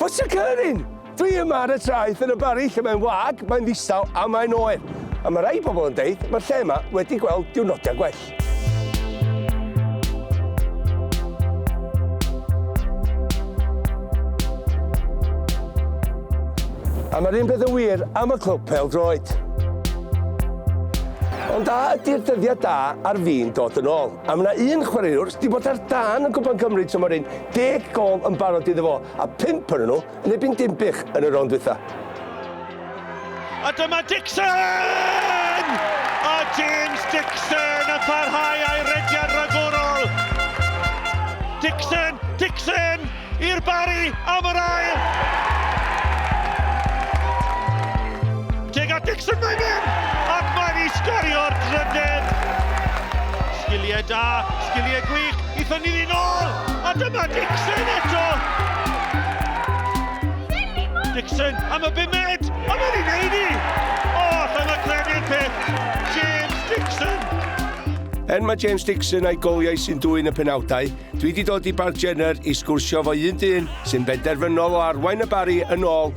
What's occurring? Dwi yma ar y traeth yn y bari lle mae'n wag, mae'n ddistaw a mae'n oer. A mae rhai pobl yn deud mae'r lle yma wedi gweld diwrnodau gwell. A mae'r un peth yn wir am y clwb pel droed. Ond a ydy'r dyddiau da ar fi'n dod yn ôl? A mae yna un chwaraewr sydd wedi bod ar dan yn Gwpan Cymru tymor hyn, deg gol yn barod iddo fo, a pimp yn nhw Nebyn Dinbych yn y rownd dwytha. A dyma Dixon! A James Dixon yn parhau a'i rediad ragorol. Dixon, Dixon i'r bari am yr ail. Teg at Dixon mae'n mynd! Ac mae'n i sgorio'r drydedd! Sgiliau da, sgiliau gwych, Ithon ni ddyn ôl, a dyma Dixon eto! Dixon am y bumed, a mae'n ei wneud i! O, allan o credu'r peth, James Dixon! Er mae James Dixon a'i goliau sy'n dwyn y penawdau, dwi wedi dod i Barc Jenner i sgwrsio fo un dyn sy'n benderfynol o arwain y Barri yn ôl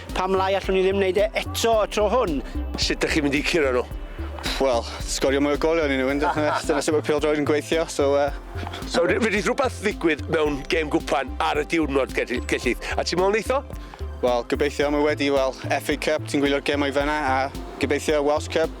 Pam lai allwn ni ddim wneud e eto y tro hwn? Sut dych chi'n mynd i curo nhw? Wel, sgorio mwy o golion i nhw, yn dyna dyna sut mae pêl-droed yn gweithio, so uh... So, fedrith rhywbeth ddigwydd mewn gêm gwpan ar y diwrnod, Gellith, a ti'n meddwl neitho? Wel, gobeithio, mae wedi, wel, FA Cup, ti'n gwylio'r gemau fanna, a gobeithio Welsh Cup.